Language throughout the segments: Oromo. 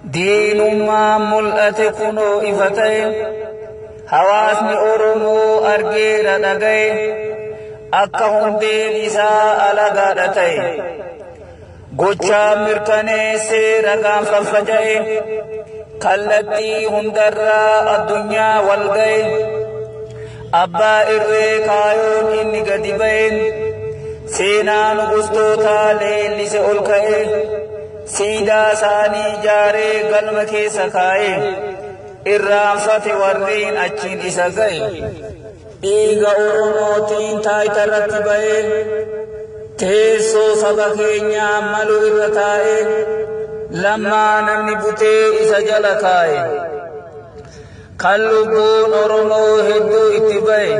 Diinummaan mul'ate kunoo ifa ta'e hawaasni Oromoo argeera dhaga'e akka hundeen isaa alagaadha ta'e gochaa mirkaneessee ragaan faffaca'e kallattii hundarraa addunyaa wal ga'e abbaa irree kaayoon inni gadi ba'e seenaan gustootaa leellise ol ka'e. Siidaa isaanii ijaaree galma keessa kaa'ee irraanfate warreen achiin isa ga'e dhiiga Oromootiin taayita irratti ba'ee teessoo saba keenyaa malu irra taa'ee lammaa namni butee isa jala kaa'e. Kan lubbuun Oromoo hedduu itti ba'e,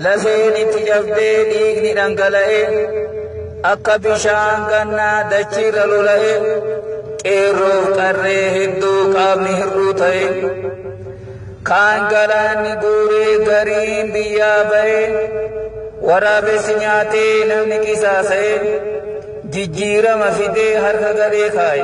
lafeen itti cabdee dhiigni dhangala'e, akka bishaan gannaa dachiirra lola'e, qeerroof qarree hedduu qaamni hir'uu ta'e, kaan galaanni guuree gariin biyyaa ba'e, waraabessi nyaatee namni qisaasa'e, jijjiirama fidee harka gadhee kaa'e.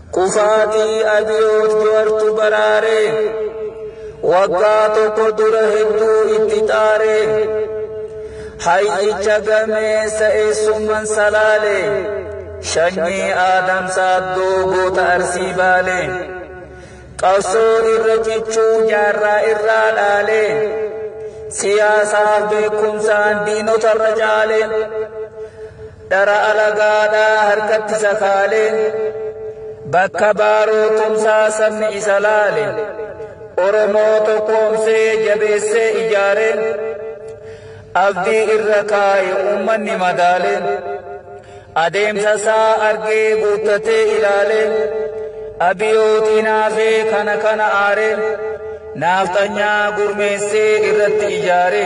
Kufaatii Abiyoot Jowartu baraare. Waggaa tokko dura hedduu itti xaare. Hayyicha gameessa eessumman salaale. Shanyii Aadam Saaddoo goota Arsii baale. Qabsoo irra cichuu jaarraa irraa dhaale. Siyaasaaf beekumsaan diinotarra caale. Dhara alagaadhaa harkatti sakaale, bakka baaroo tumsaa sabni isa laale, Oromoo tokkoomsee jabeessee ijaare, abdii irra kaa'e uummanni madaale, adeemsa isaa argee guuttatee ilaale, abiyootiin haafee kana kana aare, naafxanyaa gurmeessee irratti ijaare.